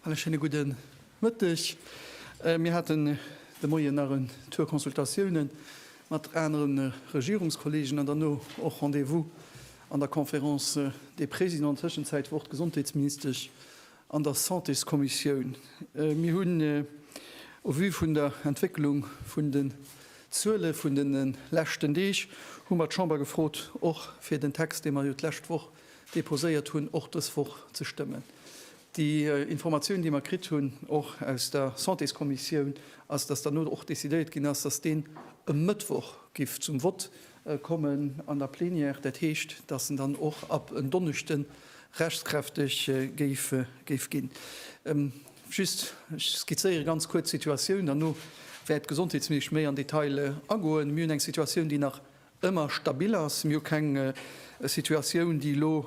Alle schéine gudde Mëtteg. Äh, mir haten äh, de Moien nach en Tour Consultatiounen mat aneren äh, Regierungskollegen an derno och Rendez-vous an der Conférence äh, des Présidents. Tëschenzäit wor d'Gesondheetsministesch an der Santéskommissioun. Mir hunn au vu vun der Entwécklung vun den Zuele vun de leschten Deeg hu mer d'Chamber gefrot, och fir den Text, dee mer jo d'lescht Woch deposéiert hunn, och dës Woch ze stëmmen. Déi Informatioun, déi mer kritt hunn, och aus der Santéskommissioun, ass, dass dann elo och decidéiert ginn ass, dass deen e Mëttwoch giff zum Vott kommen an der Plénière, dat heescht, dass en dann och ab en Donneschde rechtskräfteg géif ginn. Just, ech skizzéiere ganz kuerz d'Situatioun, derno wäert d'Gesondheetsministesch méi an Detail agoen. Mir hunn eng Situatioun, déi nach ëmmer stabil ass. Mir hu keng Situatioun, déi elo,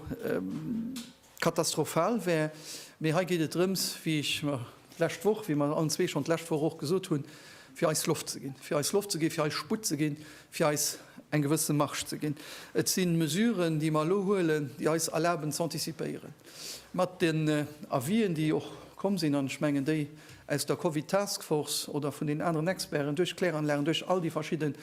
Katastrophal wär. Mee hei geet et drëms, wéi ech d'lescht Woch, wéi mer allen zwee schonn d'lescht Woch och gesot hunn, fir eis Loft ze ginn, fir eis Loft ze ginn, fir eis Sputt ze ginn, fir eis eng gewësse Marge ze ginn. Et si Mesuren, déi mer elo huelen, déi eis erlaben ze antizipéieren mat den Avisen, déi och komm sinn, an ech mengen déi aus der Covid Task Force oder vun den aneren Experten, duerch d'Kläranlagen, duerch all déi verschidde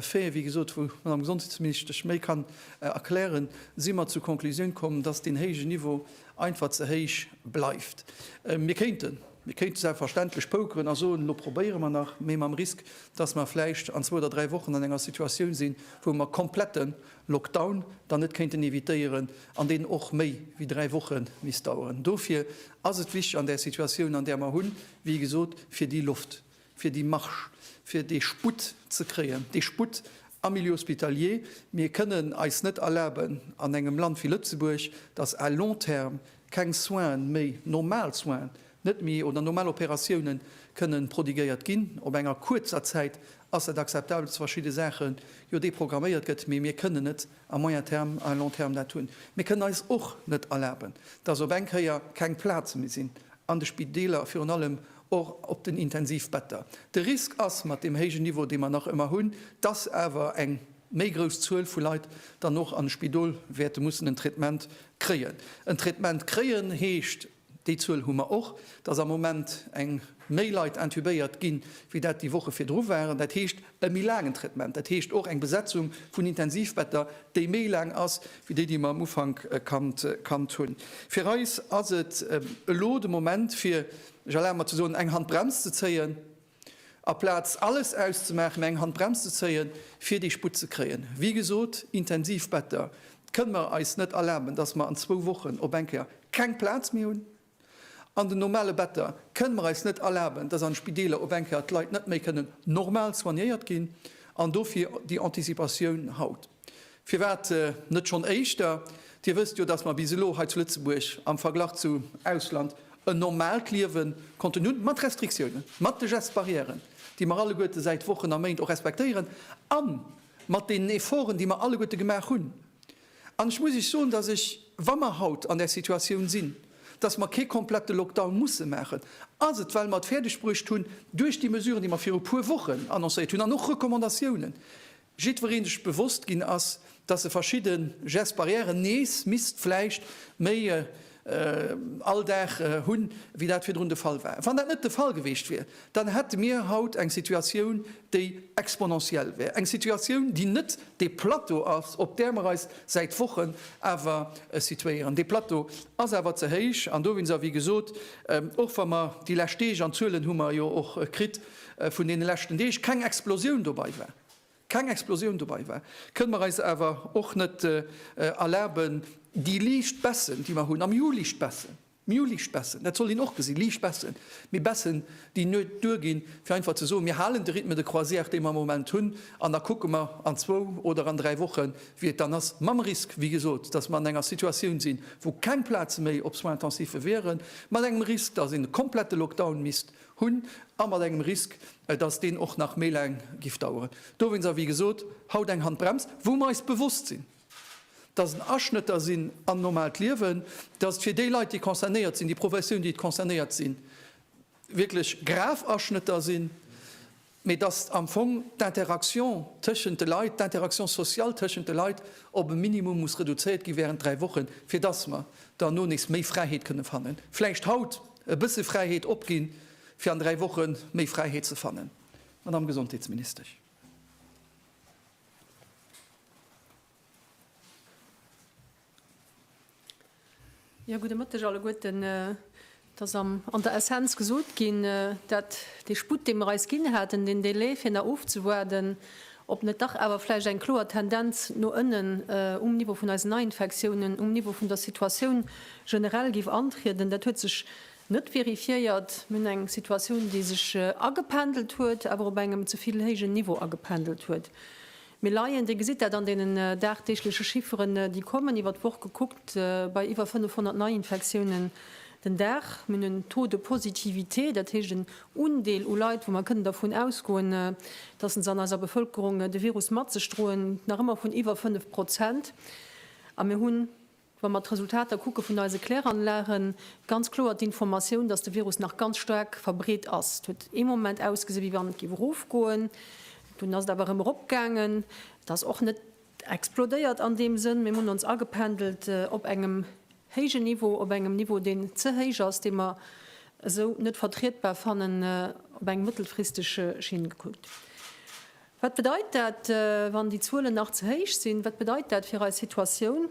Faiten, wéi gesot, wou d'Madame Gesondheetsministesch méi kann. Erklären, si mer zur Konklusioun komm, dass deen héije Niveau einfach ze héich bleift. Mir kéinten, mir kéinte selbstverständlech pokeren a soen, elo probéiere mer nach, mee mam Risk, dass mer vläicht an zwou oder dräi Wochen an enger Situatioun sinn, wou mer komplette Lockdown dann net kéinten evitéieren an deen och méi wéi dräi Woche misst daueren. Dofir ass et wichteg an där Situatioun, an där mer hunn, wéi gesot, fir déi Loft, fir déi Marge, fir dee Sputt ze kréien, dee Sputt am Milieu hospitalier. Mir kënnen eis net erlaben an engem Land wéi Lëtzebuerg, datt à long terme keng Soine méi, normal Soine net méi oder normal Operatiounen kënnen prodiguéiert ginn. Op enger kuerzer Zäit ass dat akzeptabel, dass verschidde Saache jo deprogramméiert gëtt, mee mir kënnen net à moyen terme, à long terme dat hunn. Mir kënnen eis och net erlaben, dass op eng Kéier keng Plaze méi sinn an de Spideeler, virun allem och op den Intensivbetter. De Risk ass, mat deem héijen Niveau, dee mer nach ëmmer hunn, dass awer eng méi grouss Zuel vu Leit dann och an d'Spidol wäerte mussen en Traitement kréien. En Traitement kréien heescht, déi Zuel hu mer och, dass am Moment eng méi Leit intubéiert ginn, wéi dat déi Woche virdru waren. Dat heescht. E méi laangen Traitement, dat heescht och eng Besetzung vun Intensivbetter, déi méi laang ass wéi déi, déi mer am Ufank kannt hunn. Fir eis ass et elo de Moment, fir, ech erlabe mer ze soen, eng Handbrems ze zéien. Aplaz alles auszemaachen, mä eng Handbrems ze zéien, fir déi Sputt ze kréien. Wéi gesot, Intensivbetter kënne mer eis net erlaben, dass mer an zwou Wochen op eng Kéier keng Plaz méi hunn, An den normale Better kënnen mer eis net erlaben, dass an Spideeler op eng Kéier d'Leit net méi kënnen normal soignéiert ginn. An dofir déi Anticipatioun haut. Firwat net schonn éischter? Dir wësst jo, dass mer bis elo hei zu Lëtzebuerg am Verglach zum Ausland en normaalt Liewe konnten hunn, mat Restriktiounen, mat de Gestes barrièren, déi mer alleguerte säit Wochen a Méint och respektéieren, a mat deenen Efforten, déi mer alleguerte gemaach hunn. An ech muss Iech soen, dass ech, wa mer haut an där Situatioun sinn, dass mer kee komplette Lockdown musse maachen, ass et, well mer et fäerdegbruecht hunn, duerch déi Mesuren, déi mer viru puer Wochen annoncéiert hunn, an och Recommandatiounen, jiddweree sech bewosst ginn ass, dass e verschidde Gestes barrières nees misst vläicht méi, all Dag hunn, wéi dat virdrun de Fall war. Wann dat net de Fall geweecht wier, dann hätte mir haut eng Situatioun, déi exponentiell wär, eng Situatioun, déi net dee Plateau ass, op där mer eis säit Wochen awer situéieren. Dee Plateau ass awer ze héich an dowéinst, a wéi gesot, och wa mer déi lescht Deeg, an d'Zuelen hu mer jo och kritt vun deene leschten Deeg, keng Explosioun dobei war, keng Explosioun dobai war, kënne mer eis awer och net erlaben, déi liicht Baissen, déi mer hunn am Ju, liicht Baissen, Ju, liicht Baissen, dat sollt een och gesinn, liicht Baissen, mee Baissen, déi net duerginn, fir einfach ze soen, mir halen de Rythme de croisière, dee mer am Moment hunn, an da kucke mer an zwou oder an dräi Wochen, wéi et dann ass, mam Risk, wéi gesot, datt mer an enger Situatioun sinn, wou keng Plaze méi op Soins-intensive wieren, mat engem Risk, datt een e komplette Lockdown misst Hunn, a mat engem Risk, dass deen och nach méi laang giff daueren. Dowéinst, a wéi gesot, haut eng Handbrems, wou mer eis bewosst sinn, dass en Aschnëtter sinn an normaalt Liewen, dass et fir déi Leit, déi concernéiert sinn, déi Professioun, déi concernéiert sinn, wierklech grav Aschnëtter sinn. mee datt am Fong d'Interaction tëschent de Leit, d'Interaction sociale tëschent de Leit op e Minimum muss reduzéiert gi während dräi Wochen, fir datt mer derno nees méi Fräiheet kënne fannen. Vläicht haut e bësse Fräiheet opginn, fir an dräi Woche méi Fräiheet ze fannen, Madame Gesondheetsministesch. Jo, gudde Mëtteg alleguerten. Et ass an der Essenz gesot ginn, dat dee Sputt, dee mer eis ginn haten, deen Délai fir nach ofzewaarden, ob net dach awer vläicht eng kloer Tendenz no ënnen um Niveau vun eisen Neiinfektiounen, um Niveau vun der Situatioun generell géif antrieden, dat huet sech net vérifiéiert. Mir hunn eng Situatioun, déi sech agependelt huet, awer op engem ze vill héijen Niveau agependelt huet. Mir leien, Dir gesitt dat an deenen dagdeegleche Chifferen, déi kommen, iwwer d'Woch gekuckt bei iwwer 500 Neiinfektiounen den Dag. Mir hunn en Taux de positivité, dat heescht en Undeel u Leit, wou mer kënnen dervun ausgoen, dass se an eiser Bevëlkerung de Virus mat sech droen, nach ëmmer vun iwwer 5 Prozent. A mir hunn. Wa mer d'Resultater kucke vun eise Kläranlagen, ganz kloer d'Informatioun, datt de Virus nach ganz staark verbreet ass. Et huet ee Moment ausgesinn, wéi wann et géif erofgoen, dunn ass et awer erëm eropgaangen. Et ass och net explodéiert an deem Sënn, mee mir hunn ons agependelt op engem héijen Niveau, op engem Niveau, deen ze héich ass, dee mer esou net vertrietbar fannen, op eng mëttelfristeg Schinn gekuckt. Wat bedeit dat, wann déi Zuelen nach ze héich sinn? Wat bedeit dat fir eis Situatioun?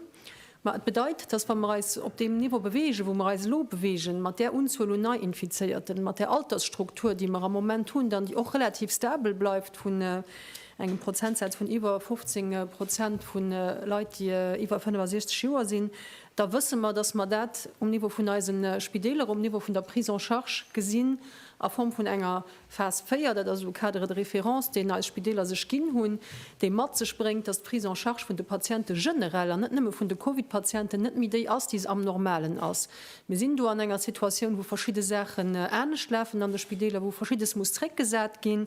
Ma et bedeit, datt wa mer eis op deem Niveau bewegen, wou mer eis elo bewegen, mat där Unzuel un Nei-Infizéierten, mat där Altersstruktur, déi mer am Moment hunn, dann déi och relativ stabel bleift vun engem Prozentsaz vun iwwer 15 Prozent vu Leit, déi iwwer 65 Joer sinn, da wësse mer, datt mer dat um Niveau vun eise Spideeler, um Niveau vun der Prise en charge gesinn a Form vun enger Phas 4, dat ass elo e Cadre de référence, deen eis Spideeler sech ginn hunn, dee mat sech bréngt, datt d'Prise en charge vun de Patiente generell, an net nëmme vun de Covid-Patienten, net méi déi ass, déi se am Normalen ass. Mir sinn do an enger Situatioun, wou verschidde Saachen anescht lafen an de Spideeler, wou Verschiddes muss zréckgesat ginn.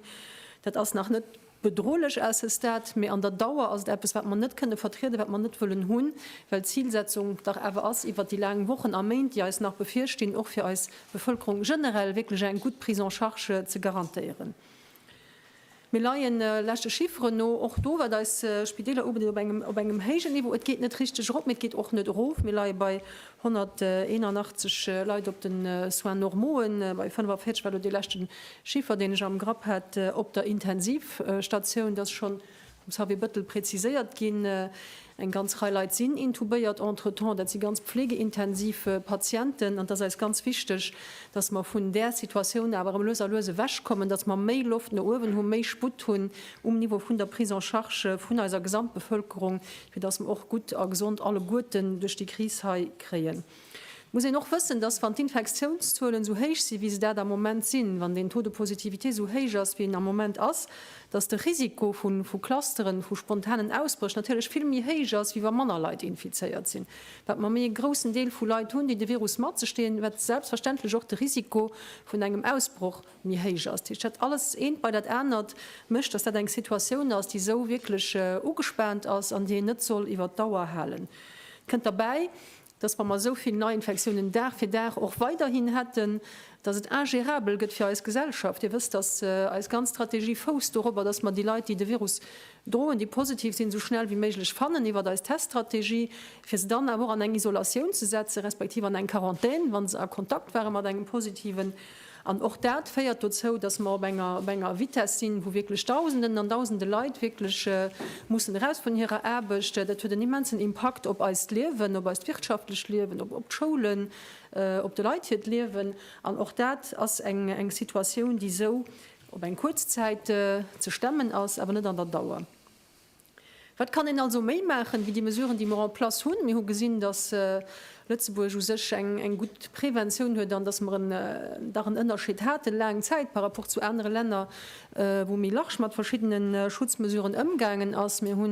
Dat ass nach net. Bedrohlech ass es dat, mee an der Dauer ass et eppes, wat mer net kënne vertrieden, wat mer net wëllen hunn, well d'Zilsetzung dach awer ass, iwwert déi laang Wochen a Méint, déi eis nach bevirstinn, och fir eis Bevëlkerung generell wierklech eng gutt Prise en charge ze garantéieren. Mir leien, leschte Chifferen no, och do, wat eis Spideeler ubedeet, op engem héijen Niveau. Et geet net richteg erop, mee et geet och net erof. Mir leie bei 181 Leit op de Soins normaue, bei 45 war do dee leschte Chiffer, deen ech am Grapp hat, op der Intensivstatioun. Et ass schonn vum Xavier Bettel preziséiert ginn, Eng ganz Rei Leit sinn intubéiert entretemps. Dat si ganz pflegeintensiv Patienten. An et ass eis ganz wichteg, dass mer vun där Situatioun awer erëm lues a lues ewechkommen, dass mer méi Loft no uewen hunn, méi Sputt hunn um Niveau vun der Prise en charge vun eiser Gesamtbevëlkerung, fir dass mer och gutt a gesond alleguerten duerch déi Kris hei kréien. Et muss een och wëssen, dass, wann d'Infektiounszuelen esou héich sinn, wéi se dat am Moment sinn, wann den Taux de positivité esou héich ass, wéi en am Moment ass, dass de Risiko vu Clusteren, vu spontanen Ausbréch natierlech vill méi héich ass, wéi wa manner Leit infizéiert sinn, wat mer méi e groussen Deel vu Leit hunn, déi de Virus mat sech deen, wat selbstverständlech och de Risiko vun engem Ausbroch. méi héich ass. Dat heescht, dat alles, eent bei dat anert, mécht, dass dat eng Situatioun ass, déi esou wierklech ugespaant ass an déi een net soll iwwert d'Dauer halen. Et kënnt derbäi, dass, wa mer esou vill Neiinfektiounen Dag fir Dag och weiderhin hätten, dass et ingérabel gëtt fir eis Gesellschaft. Dir wësst, dass eis ganz Strategie fousst dorobber, dass mer déi Leit, déi de Virus droen, déi positiv sinn, esou schnell wéi méiglech fannen iwwert eis Teststrategie, fir se dann awer och an eng Isolatioun ze setzen, respektiv an eng Quarantän, wa se a Kontakt ware mat engem Positiven. An och dat féiert dozou, dass mer op enger, op enger Vitesse sinn, wou wierklech Dausenden an Dausende Leit wierklech mussen eraus vun hirer Aarbecht. Dat huet en immensen Impakt op eist Liewen, op eist wirtschaftlecht Liewen, op, op d'Schoulen, op de Leit hiert Liewen. An och dat ass eng, eng Situatioun, déi esou op eng kuerz Zäit ze stemmen ass, awer net an der Dauer. Wat kann een also méi maachen, wéi déi Mesuren, déi mer en place hunn? Mir hu gesinn, datt Lëtzebuerg u sech eng gutt Preventioun huet an datt mer dach en Ënnerscheed haten, laang Zäit, par rapport zu anere Länner, wou méi large mat verschiddene Schutzmesuren ëmgaangen ass. Mir hu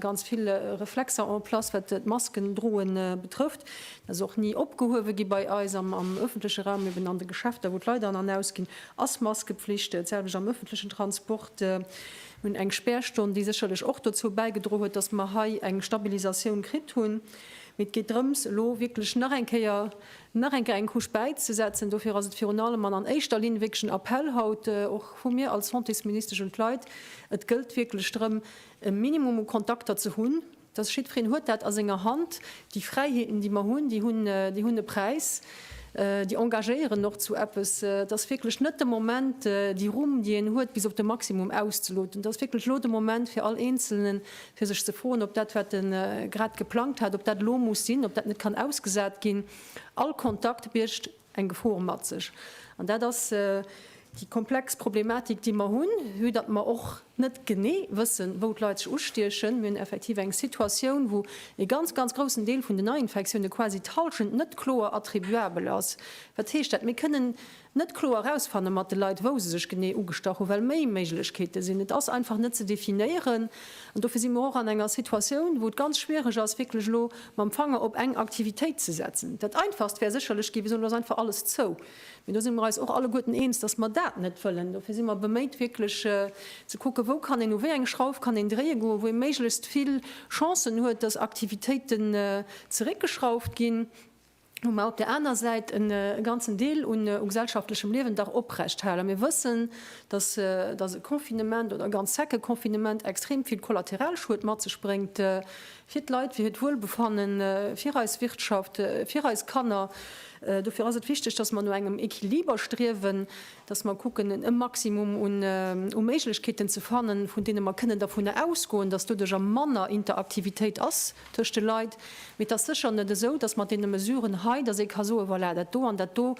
ganz vill Reflexer en place, wat d'Masken droe betrëfft. Dat ass och ni opgehuewe gi bei eis am ëffentleche Raum, eben an de Geschäfter, wou d'Leit an an ausginn, ass Maskepflicht. Dat selwecht am ëffentlechen Transport. hunn eng Spärstonn, déi sécherlech och dozou bäigedroen huet, dass mer hei eng Stabilisatioun kritt hunn. Mee et geet drëms, elo wierklech nach eng Kéier, nach eng Kéier eng Couche bäizesetzen. Dofir ass et virun allem an an éischter Linn wierklech en Appell haut och vu mir als Santésministesch un d'Leit, Et gëllt wierklech drëm, e Minimum u Kontakter ze hunn, dass jiddwereen huet dat a senger Hand, déi Fräiheeten, déi mer hunn, déi hunn, déi hunn e Präis, déi engagéieren och zu eppes. Et ass wierklech net de Moment, déi Rumm, déi een huet, bis op de Maximum auszeloten. Et ass wierklech elo de Moment fir all Eenzelnen, fir sech ze froen, ob dat, wat e grad geplangt hat, ob dat elo muss sinn, ob dat net kann ausgesat ginn. All Kontakt biergt. eng Gefor mat sech. An dat ass déi komplex Problematik, déi mer hunn, vue datt mer och net genee wëssen, wou d'Leit sech ustiechen. Mir hunn effektiv eng Situatioun, wou e ganz, ganz groussen Deel vun den Neiinfektioune quasi d'Halschent net kloer attribuabel ass. Wat heescht dat? Mir kënnen net kloer erausfanne mat de Leit, wou se sech genee ugestach hunn, well méi Méiglechkeete sinn. Et ass einfach net ze definéieren. An dofir si mer och an enger Situatioun, wou et ganz schwierig ass, wierklech elo mam Fanger op eng Aktivitéit ze setzen. Dat Einfachst wär sécherlech ginn, Mir soen, Elo ass einfach alles zou. Mee do si mer eis och alleguerten eens, dass mer dat net wëllen. Dofir si mer beméit, wierklech ze kucken, Wou kann een, u wéi eng Schrauf kann een dréie goen, wou ee méiglechst vill Chancen huet, dass Aktivitéiten zeréckgeschrauft ginn? hu mer op där aner Säit e ganzen Deel un u gesellschaftlechem Liewen dach oprecht halen. Mir wëssen, dass dass e Confinement oder e ganz secke Confinement extrem vill Kollateralschued mat sech bréngt fir d'Leit, fir hiert Wuelbefanne, fir eis Wirtschaft, fir eis Kanner. Dofir ass et wichteg, dass mer no engem Equiliber striewen. dass mer kucken, e Maximum un Méiglechkeeten ze fannen, vun deene mer kënnen dervun ausgoen, dass doduerch a manner Interaktivitéit ass tëscht de Leit. Mee et ass sécher net esou, dass mat deene Mesuren hei, dass ee ka soen, voilà, dat do an dat do,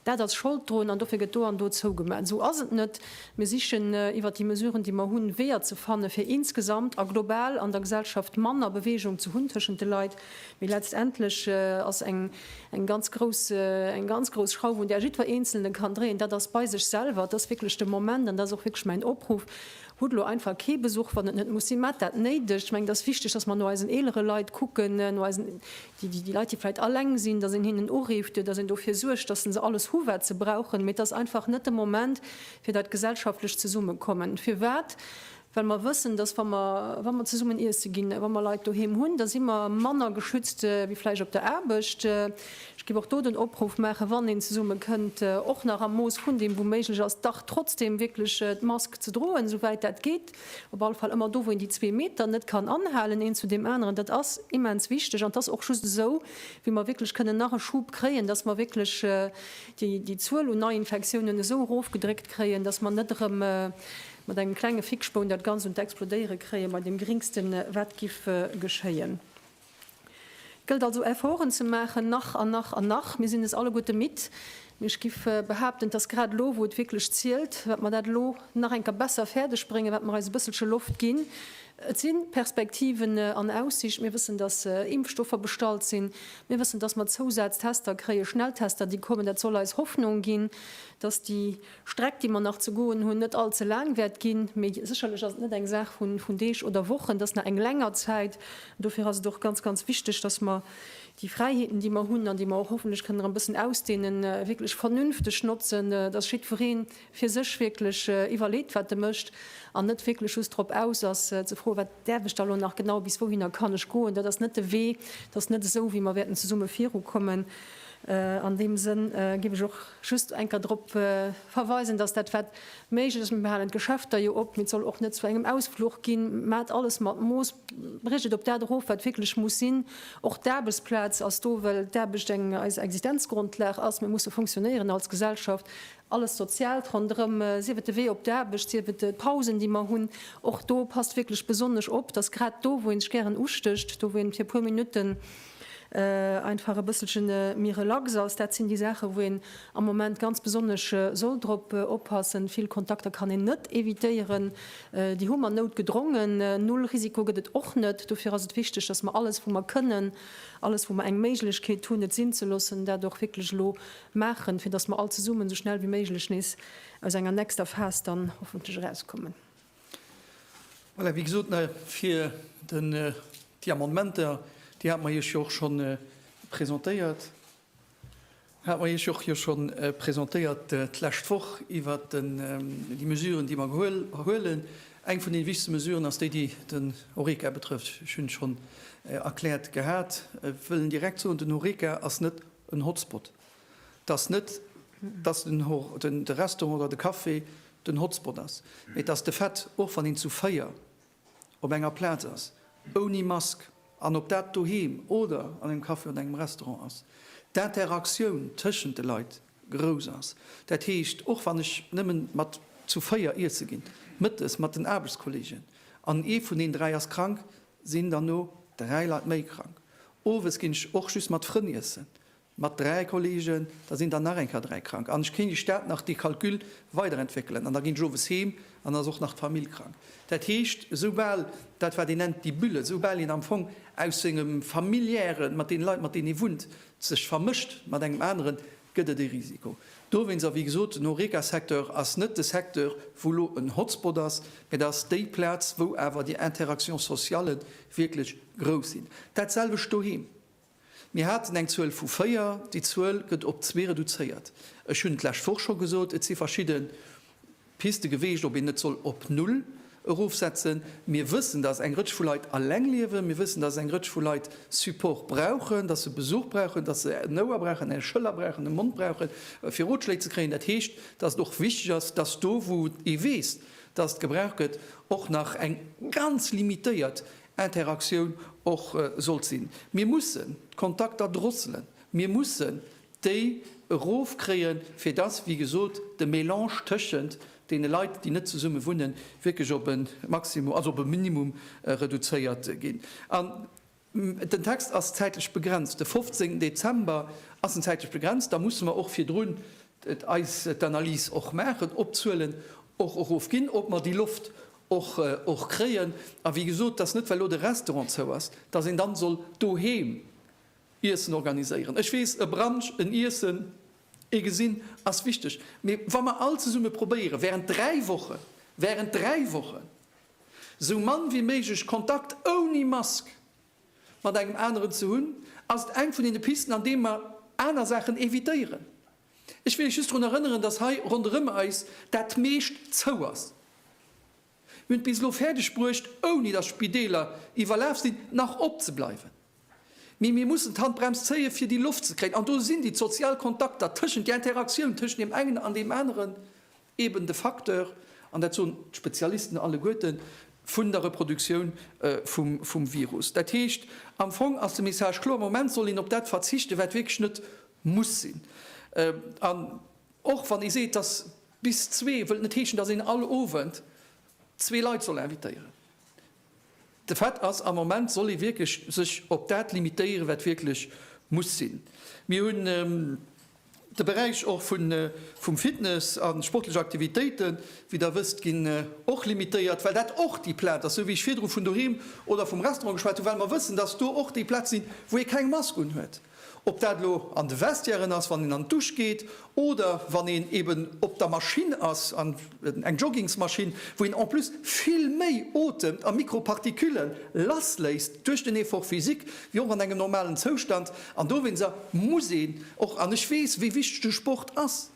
dat ass Schold drun an dofir gëtt do an do zougemat. Esou ass et net. Mir sichen iwwert déi Mesuren, déi mer hunn, Weeër ze fanne fir insgesamt a global an der Gesellschaft manner Beweegung ze hunn tëschent de Leit. Mee letztendlech ass eng. Eng ganz grouss, eng ganz grouss Schrauf, un där jiddwer Eenzelne kann dréien, dat ass bei sech selwer. Et ass wierklech de Moment, an dat ass och wierklech mäin Opruff, hutt elo einfach kee Besuch, wann et net muss sinn, mat dat Néidegt. Ech mengen, et ass wichteg, dass mer no eisen eelere Leit kucken, no eisen, déi, déi Leit, déi vläicht alleng sinn, dass een hinnen urifft, dass een dofir suergt, dass se alles hu wat se brauchen. Mee et ass einfach net de Moment fir dat gesellschaftlech Zesummekommen. Firwat? well mer wëssen, dass wa mer, wa mer zesummen iesse ginn, wa mer Leit doheem hunn, da si mer manner geschützt wéi vläicht op der Aarbecht. Ech géif och do den Opruff maachen, wann een zesumme kënnt, och nach am Mooss vun deem wou méiglech ass, dach trotzdeem wierklech d'Mask ze droen, esou wäit dat geet, op alle Fall ëmmer do wou een déi zwee Meter net kann anhalen een zu deem aneren. Dat ass immens wichteg an 't ass och just esou wéi mer wierklech kënnen nach e Schub kréien, dass mer wierklech déi Zuel un Neiinfektiounen esou erofgedréckt kréien, dass mer net erëm Mat engem klenge Fickspoun dat Ganzt un d'Explodéiere kréien, bei dem Geringsten wat giff geschéien. Gëllt also Efforten ze maachen, nach an nach an nach. Mir sinn es alleguerte midd, mee ech giff behaapten, et ass grad elo wou et wierklech zielt, wat mer dat elo nach eng Kéier besser fäerdeg bréngen, wat mer eis e bësselche Loft ginn. Et si Perspektiven an Aussicht, mir wëssen dass Impfstoffer bestallt sinn, mir wëssen dass mer Zousaztester kréien, Schnelltester déi kommen, dat soll eis Hoffnung ginn, dass déi. Streck, déi mer nach ze goen hunn, net all ze laang wäert ginn. Mee sécherlech ass et net eng Saach vun Deeg oder Wochen, et ass nach eng länger Zäit. An dofir ass et och ganz, ganz wichteg, dass mer déi Fräiheeten, déi mer hunn an déi mer och hoffentlech kënnen nach e bëssen ausdehnen, wierklech vernünfteg notzen, dass jiddweree fir sech wierklech iwwerleet, wat e mécht, an net wierklech just drop aus ass, ze froen, Wat däerf ech da elo nach genau? Bis wouhinner kann ech goen? Dat ass net de Wee. Et ass net esou, wéi mer wäerten zesumme virukommen. An deem Sënn géif ech och Just enker drop verweisen, dass dat wat méiglech ass, mir halen d'Geschäfter jo op, mee et soll och net zu engem Ausfluch ginn. Maacht alles mat Mooss, briecht et op dat erof wat wierklech muss sinn. Och d'Aarbechtsplaz ass do, well d'Aarbecht eng eis Existenzgrundlag ass. Mir musse funktionéieren als Gesellschaft, alles Soziaalt ronderëm, sief et de Wee op d'Aarbecht, sief et d'Pausen déi mer hunn. Och do passt wierklech besonnesch op, dass grad do wou ee sech gären ustécht, do wou een fir e puer Minutten, einfach e bësselche méi relax ass. Dat sinn déi Saachen, wou een am Moment ganz besonnesch soll drop oppassen. Vill Kontakter kann een net evitéieren, déi hu mer noutgedrongen. Null Risiko gëtt et och net. Dofir ass et wichteg, dass mer alles, wou mer kënnen, alles, wou mer eng Méiglechkeet hunn, et sinn ze loossen, dat och wierklech elo maachen, fir dass mer all zesummen esou schnell wéi méiglech nees aus enger nächster Phas dann hoffentlech erauskommen. Voilà, wéi gesot, fir déi Amendementer, déi hate mer Iech jo och scho presentéiert, hate mer Iech och jo scho presentéiert d'lescht Woch iwwert déi Mesuren, déi mer huelen. Eng vun deene wichtegste Mesuren ass déi, déi den Horeca betrëfft. Ech hunn schonn erkläert gehat, ech wëll direkt soen, den Horeca ass net en Hotspot. dass net dass den de Restaurant oder de Café den Hotspot ass, mee dass de Fait, och wann een zu véier op enger Plaz ass, ouni Mask, an ob dat doheem oder an engem Café oder engem Restaurant ass, d'Interaktioun tëschent de Leit grouss ass. Dat heescht, och wann ech nëmmen mat zu véier iesse ginn, mëttes mat den Aarbechtskolleegen, an ee vun den dräi ass krank, sinn derno dräi Leit méi krank. Owes ginn ech och just mat Frënn iessen, Mat dräi Kollegen, da sinn der nach eng Kéier dräi krank an ech kéint Iech dat nach dee Calcul weiderentwéckelen. An da ginn ech owes heem an da ass och nach d'Famill krank. Dat heescht, esoubal, dat wat een nennt die Bulle, esoubal een am Fong aus sengem Familiären, mat deene Leit mat deenen ee wunnt, sech vermëscht mat engem aneren, gëtt et ee Risiko dowéinst. A wéi gesot, den Horeca-Secteur ass net de Secteur wou elo en Hotspot ass, mä dat ass déi Plaz wou awer déi Interaction socialen wierklech grouss sinn. Dat selwecht doheem. Mir haten eng Zuel vu véier, déi Zuel gëtt op zwee reduzéiert. Ech hunn d'lescht Woch scho gesot, et si verschidde Piste geweecht, ob een net soll op null erofsetzen. Mir wëssen, dass eng Rëtsch vu Leit aleng liewen. Mir wëssen, dass eng Rëtsch vu Leit Support brauchen, dass se Besuch brauchen, dass se en Ouer brauchen, eng Schëller brauchen, e Mond brauchen, fir Rotschléi ze kréien. Dat heescht, dass et och wichteg ass, dass do, wou ee weess, dass et gebraucht gëtt, och nach eng ganz limitéiert Interaktioun och sollt sinn. Mir mussen d'Kontakter drosselen, mir mussen déi erofkréien, fir dass, wéi gesot, de Mélange tëschent deene Leit, déi net zesumme wunnen, wierklech op e Maximum, also op e Minimum reduzéiert ginn. An den Text ass zäitlech begrenzt, de 15 Dezember ass en zäitlech begrenzt, da musse mer och virdrun eis d'Analys och maachen, ob d'Zuelen och erofginn, ob mer déi Loft och kréien. A wéi gesot, dass net well elo de Restaurant zou ass, dass een dann soll doheem Iessen organiséieren. Ech weess, e Brunch, en Iessen, ee gesinn, ass wichteg. Mee wa mer all zesumme probéieren während dräi Wochen, während dräi Wochen esou mann wéi méiglech Kontakt ouni Mask mat engem aneren ze hunn, ass et eng vun deene Pisten, an deem mer aner Saachen evitéieren. Ech wéilt just drun erënneren, dass hei ronderëm eis dat meescht zou ass. Mir hunn et bis elo fäerdeg bruecht, ouni dass Spideeler iwwerlaf sinn, nach op ze bleiwen. Mee mir mussen d'Handbrems zéien, fir déi Loft ze kréien. An do sinn déi d'sozial Kontakter tëschent, déi Interaktioun tëschent deem engen an deem aneren, eben de Facteur, an dat soen d'Spezialisten alleguerten, vun der Reproduktioun vum Virus. Dat heescht, am Fong ass de Message kloer, am Moment soll een op dat verzichten, wat wierklech net muss sinn. An och wann ee seet, dass bis zwee wëllt net heeschen, dass een all Owend zwee Leit soll invitéieren. De Fait ass, am Moment soll ee wierklech sech op dat limitéieren, wat wierklech muss sinn. Mir hunn de Beräich och vum Fitness a sportlech Aktivitéiten, wéi Der wësst, ginn och limitéiert, well dat och déi Plaz ass, esou wéi ech virdru vun doheem oder vum Restaurant geschwat hunn, well mer wëssen, dass do och déi Plaze sinn, wou ee keng Mask unhuet. Ob dat elo an de Vestiairen ass, wann een an d'Dusch geet, oder wann een eben op der Maschinn ass, an eng Joggingsmaschinn, wou een en plus vill méi otemt a Mikropartikülle lassléisst duerch den Effort physique wéi och an engem normalen Zoustand. An dowéinster muss een och, an ech weess, wéi wichteg de Sport ass,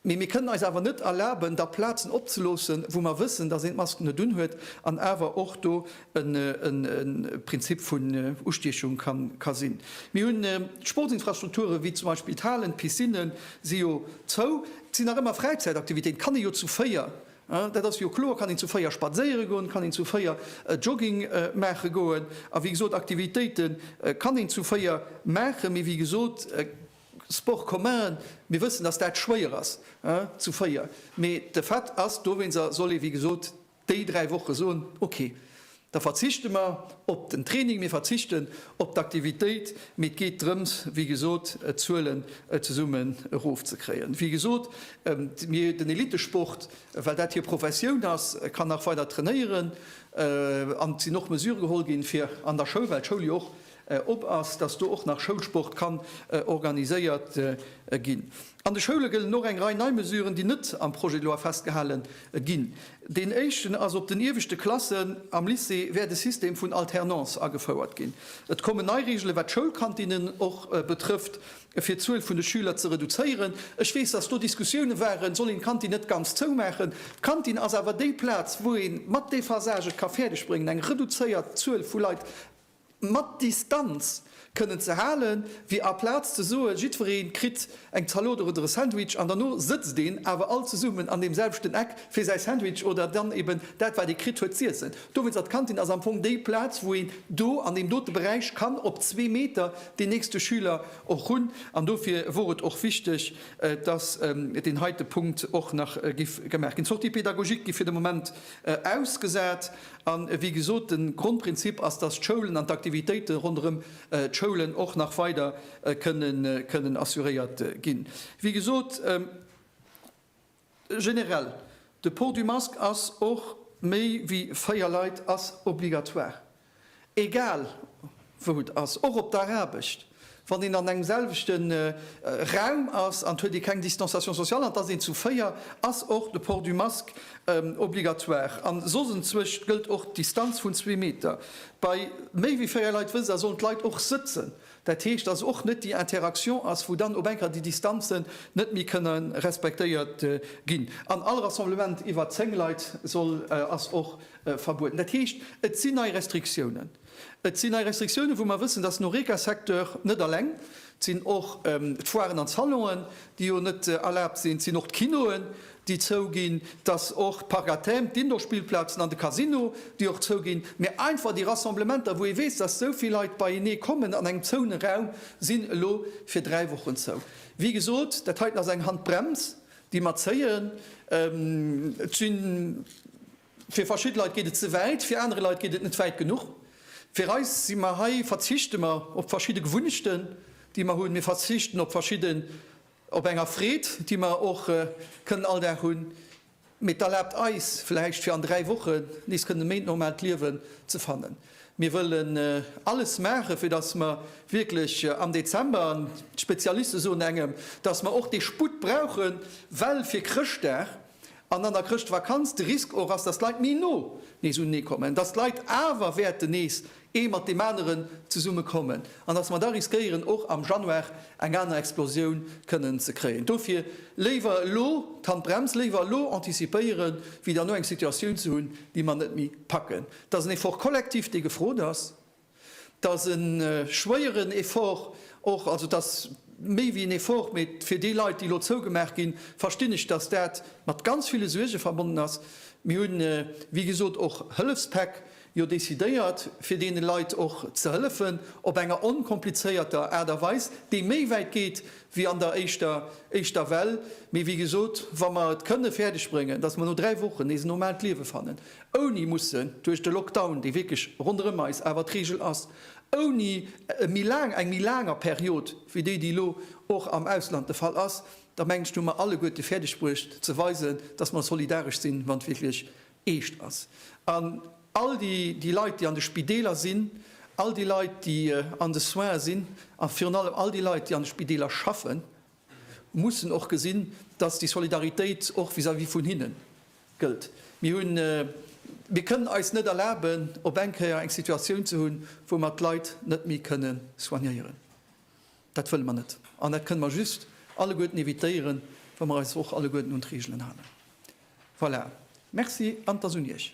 Mee mir kënnen eis awer net erlaben, da Plazen opzeloossen, wou mer wëssen, dass een d'Masken net unhuet an awer och do e Prinzip vun Ustiechung ka sinn. Mir hunn d'Sportsinfrastrukture wéi zum Beispill d'Halen, d'Piscine si jo zou. Et sinn nach ëmmer Fräizäitaktivitéiten, et kann ee jo zu véier, dat ass jo kloer, kann een zu véier spadséiere goen, kann een zu véier Jogging maache goen a wéi gesot Aktivitéite kann een zu véier maachen. Mee wéi gesot. Sport commun, mir wëssen, dass dat schwéier ass zu véier, mee de Fait ass, dowéinser soll ee wéi gesot déi dräi Woche soen, okay, da verzichte mer op den Training, mir verzichten op d'Aktivitéit, mee et geet drëms, wéi gesot, d'Zuelen zesummen erofzekréien. Wéi gesot, mir, den Elittesport, well dat hir Professioun ass, kann nach weider trainéieren an et sinn och Mesure geholl ginn, fir an der Schoul, well d'Schoul jo och op ass, dass do och nach Schoulsport kann organiséiert ginn. An de Schoule gëllen och eng Rei nei Mesuren, déi net am Projet de loi festgehale ginn. Deen éischten ass, Op den ieweschte Klassen am Lycée wäert e System vun Alternance agefouert ginn. Et kommen nei Reegelen, wat d'Schoulkantinnen och betrëfft, fir d'Zuel vun de Schüler ze reduzéieren. Ech weess, dass do Diskussiounen waren, Soll een d'Kantin net ganz zoumaachen? D'Kantin ass awer déi Plaz, wou ee mat Dephasage et ka fäerdegbréngen, eng reduzéiert Zuel vu Leit, mat Distanz kënnen ze hale wéi aplaz ze soe jiddweree kritt eng Zalot oder e Sandwich an derno sëtzt een awer all zesummen an deem selwechten Eck fir säi Sandwich oder dann eben dat wat ee kritt huet z'iessen. Dowéinst ass d'Kantin ass am Fong déi Plaz wou een do an deem dote Beräich kann op zwee Meter deen nächste Schüler och hunn an dofir wor et och wichteg dass deen heite Punkt och nach giff gemaach ginn. D'Sorties pédagogiques gi fir de Moment ausgesat. A wéi gesot, de Grondprinzip ass, dass d'Schoulen an d'Aktivitéite ronderëm d'Schoulen och nach weider kënnen assuréiert ginn. Wéi gesot, generell, de Port du masque ass och, méi wéi véier Leit ass obligatoire. Egal wou et ass, och op der Aarbecht, wann een an engem selwechte Raum ass an et huet ee keng Distanciation sociale an et ass een zu véier, ass och de Port du masque obligatoire. An soss enzwëscht gëllt och d'Distanz vun zwee Meter. Bei méi wéi véier Leit wësst Der, sollen d'Leit och sëtzen, Dat heescht, dass och net déi Interaction ass, wou dann op eng Kéier déi Distanzen net méi kënne respektéiert ginn. An all Rassemblement iwwer zéng Leit soll, ass och verbueden. Dat heescht, et sinn nei Restriktiounen. Et sinn nei Restriktiounen, wou mer wëssen, dass den Horeca-Secteur, net eleng, et sinn och d'Foiren an d'Salonen, déi jo net erlaabt sinn, et sinn och d'Kinoen, déi zouginn, dass och d'Parc-à-thème, d'Indoorspillplazen an de Casino, déi och zouginn, mä einfach déi Rassemblementer, wou ee weess, dass esou vill Leit beienee kommen an engem zoune Raum, sinn elo fir dräi Wochen zou. Wéi gesot, dat heiten ass eng Handbrems, déi mer zéien. Et si fir verschidde Leit geet et ze wäit, fir anere Leit geet et net wäit genuch. Fir eis si mer hei, verzichte mer op verschidde Gewunnechten, déi mer hunn, mir verzichten op verschidde. op enger Freed, déi mer och kënnen all Dag hunn, mee et erlaabt eis vläicht fir an dräi Wochen nees kënnen méi d'normaalt Liewen ze fannen. Mir wëllen alles maachen, fir datt mer wierklech am Dezember, an d'Spezialiste soen engem, datt mer och dee Sputt brauchen, well fir Chrëschtdag, an an der Chrëschtvakanz de Risk och ass, dass d'Leit méi no nees unenee kommen, dass d'Leit awer wäerten nees ee mat deem aneren zesumme kommen an dass mer da riskéieren, och am Januar eng aner Explosioun kënnen ze kréien. Dofir léiwer elo d'Handbrems, léiwer elo antizipéieren, wéi derno eng Situatioun ze hunn, déi mer net méi packen. Et ass en Effort collectif, dee gefrot ass. dass e schwéieren Effort och, also dass méi wéi en Effort, mee fir déi Leit, déi elo zougemaach ginn, verstinn ech, dass dat mat ganz ville Suerge verbonnen ass. Mir hunn, wéi gesot, och Hëllefspäck jo decidéiert, fir deene Leit och ze hëllefen op enger onkomplizéierter Aart a Weis, déi méi wäit geet wéi an der éischter éischter Well. Mee wéi gesot, wa mer et kënne fäerdeg bréngen, dass mer no dräi Wochen nees en normaalt Liewe fannen, ouni mussen duerch de Lockdown, dee wierklech ronderëm eis awer d'Reegel ass, ouni e méi laang, eng méi laanger Period wéi déi, déi elo och am Ausland de Fall ass, da mengen ech, hu mer alleguerte fäerdeg bruecht ze weisen, dass mer solidaresch sinn, wann et wierklech eescht ass. An all déi Leit, déi an de Spideeler sinn, all déi Leit, déi an de Soine sinn, a virun allem all déi Leit, déi an de Spideeler schaffen, mussen och gesinn, dass déi Solidaritéit och vis-à-vis vun hinne gëllt. Mir hunn, mir kënnen eis net erlaben, op eng Kéier eng Situatioun ze hunn, wou mer d'Leit net méi kënne soignéieren. Dat wëlle mer net. An dat kënne mer just alleguerten évitéieren, wa mer eis och alleguerten un d'Reegelen halen. Voilà. Merci an et ass un Iech.